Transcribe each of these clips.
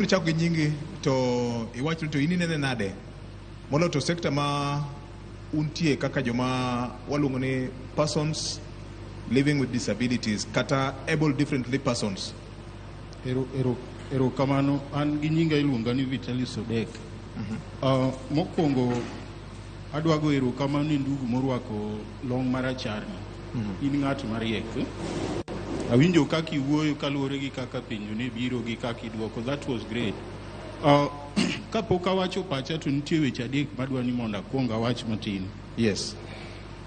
Chako gi nyingi to iwacho ni to in inene nade molo to sekta ma untie kaka joma waluongo ni persons living with disabilities kata able differently persons. Ero, ero, ero kamano an gi nyinga iluonga ni Vitalis Odek. Uh, mokwongo Adwa go erokamano ne ndugu morwako long' maracharni. In ng'at mariek. Awinjo kaka iwuoyo kaluwore gi kaka penjo ne biro gi kaka idwoko. That was great. Uh, kapok awacho pacha to nitie weche adek madwa ni mondo akwong awach matin. Yes.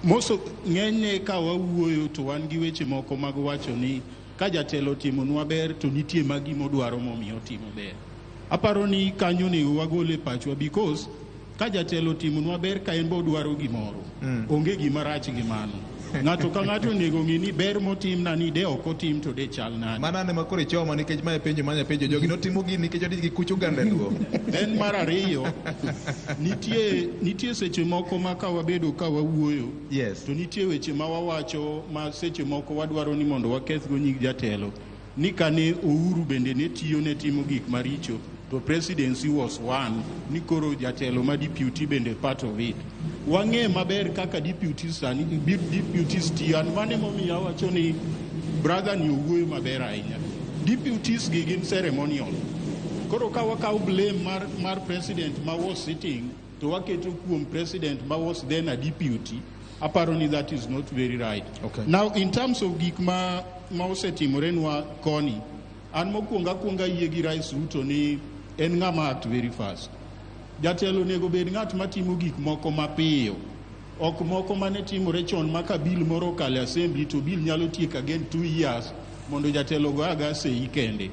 Moso ng'enyne ka wawuoyo to wan gi weche moko mag wacho ni ka jatelo timonwa ber to nitie magi modwaro momiyo otimo ber. Aparo ni kanyo onego wagole pachwa because Ka jatelo otimonwa ber ka en be odwaro gimoro, mm. onge gima rach gi mano. Ng'ato ka ng'ato onego ng'e ni ber motimna ni de ok otim to de chal nade. Mano ane makoro ichoma nikech mae penjo manya penjo jogi notimo gini nikech odich gi kuch oganda luo. En mar ariyo, nitie, nitie seche moko ma ka wabedo ka wawuoyo yes. to nitie weche ma wawacho ma seche moko wadwaro ni mondo wakethgo nying jatelo. ni kane Ouru bende ne tiyo ne timo gik maricho to presidency was one ni koro jatelo ma deputy bende part of it wang'e maber kaka deputy sani deputy tiyo an mane momiyo awacho ni brother ni owuoyo maber ahinya deputies gi gin ceremonial koro ka wakawo blame mar, mar president ma was sitting to waketo kuom president ma was then a deputy aparo ni that is not very right okay. now in terms of gik ma, ma osetimurenwa koni an mokwongo akwongo ayie gi rais ruto ni en ng'ama act very fast jatelo onego bed ng'at matimo gik moko mapiyo ok moko mane timore chon ma ka bil moro okale assembly to bil nyalo tiek again two years mondo jatelo go aga sei kende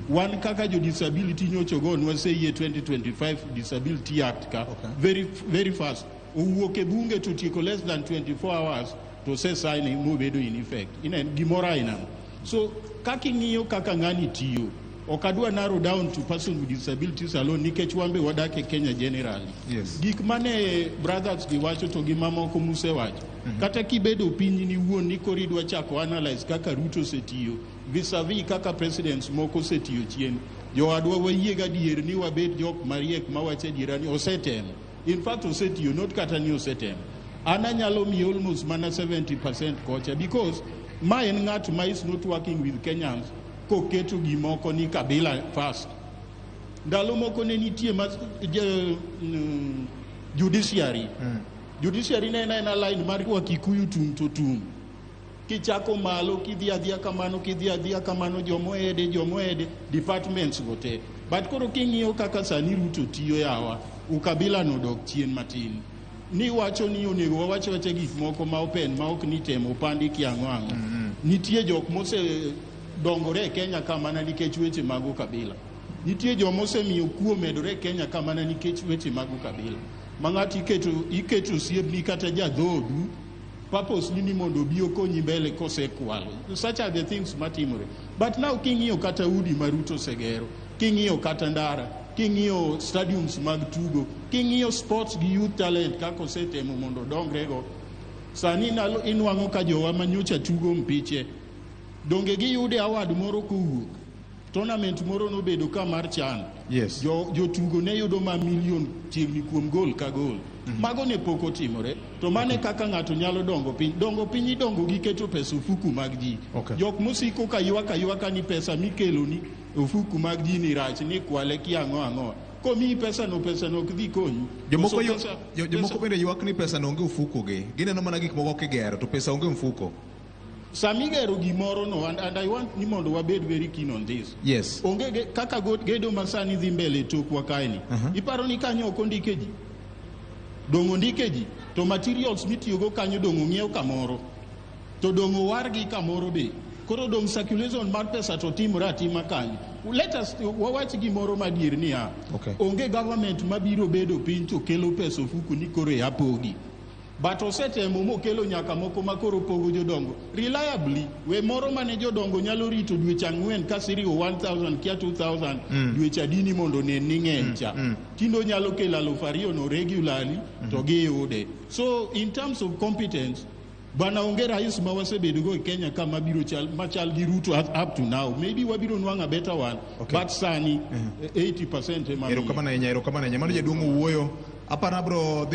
wan kaka jo disability nyocho go nwa sei e 2025 disability act ka okay. very, very fast Owuok e bunge to tieko less than 24 hours to say signing mobedo in effect. Ine gimoro aina. So kaka ing'iyo kaka ng'ani tiyo ok adwa narrow down to person with disabilities alone nikech wambe wadak e Kenya generally. Yes. Gik mane brothers gi wacho to gi mamoko musewacho. Mm -hmm. Kata kibedo piny ni wuon ni kori dwa chako analyze kaka Ruto osetiyo vis-a-vis -vis kaka presidents moko osetiyo chien. Jowadwa wayie gadier ni wabed jok mariek mawacho adiera ni osetemo. In fact, osetiyo, not kata ni osetem. An anyalo miye almost mana 70% kocha because ma en ng'at ma is not working with Kenyans koketo gimoko ni kabila first. Ndalo moko ne nitie mas, je, mm, judiciary. Mm. Judiciary ne en aena line mar wa Kikuyu tum to tum. Kichako malo kidhi adhiya kamano kidhi adhiya kamano jomoede jomoede departments go te. But koro king'iyo kaka sani Ruto tiyo yawa, ukabila no dok chien matin. Ni wacho ni onego wawach wacha gik moko ma open ma ok ni temo pandi kiang'o ang'o. Mm -hmm. Nitie jok mose dongore e Kenya ka mana nikech weche mag ukabila. Nitie joma osemiyo kuo medore e Kenya ka mana nikech weche mag ukabila. Ma ng'ato iketo iketo osiepni kata jadhoodu purpose ni ni mondo obi okonyi mbele kosekwalo such are the things matimore but now king'iyo kata udi ma ruto osegero king'iyo kata ndara king'iyo stadiums mag tugo king'iyo sports gi youth talent kaka osetemo mondo odongrego sani nalo- inwang'o ka jowa manyocha tugo mpiche donge giyude award moro kowuok Tournament moro nobedo ka mar chan. Yes. Jo, jotugo ne yudo ma milion chiegni kuom gol ka gol. Mm -hmm. Mago ne pok otimore. To mane okay. kaka ng'ato nyalo dongo piny. Dongo piny idongo gi keto pesa ofuku mag ji. Okay. Jok mosiko ka ywaka ywaka ni pesa mikelo ni ofuku mag ji ni rach ni kwale ki ang'o ang'o. Komiyi pesa no pesa no ok dhi konyi. Jomoko yo, jomoko bende ywak ni pesa no onge ofuko gi. Gineno mana gik moko kigero to pesa onge mfuko. Sami gero gimoro no and, and I want ni mondo wabed very keen on this. Yes. Onge ge, kaka go, gedo masani dhi mbele tokwa kaeni. Uh -huh. Iparo ni kanyo ok ondike ji. Dong ondike ji to materials mitiyogo kanyo dong ong'iew kamoro. To dong owargi kamoro be. Koro dong circulation mar pesa to timore atima kanyo. Let us wawach gimoro madier niya. Okay. Onge government mabiro bedo piny to kelo pesa ofuku ni koro e apogi. But osetemo mokelo nyaka moko ma koro pogo jodongo reliably we moro mane jodongo nyalo rito dweche ang'wen ka siriwo 1000 kia 2000 mm. dweche adini mondo ne ni ng'eny cha mm. mm. tindo nyalo kelo aluf ariyo no regularly mm. to giyude so in terms of competence bana onge rais ma wasebedogo e kenya ka mabiro chal machal gi ruto up to now maybe wabiro nwang'o a better one okay. but sani mm -hmm. 80 percent emaerokamano ahinya erokamano ahinya mano jaduong' owuoyo aparo abro dhi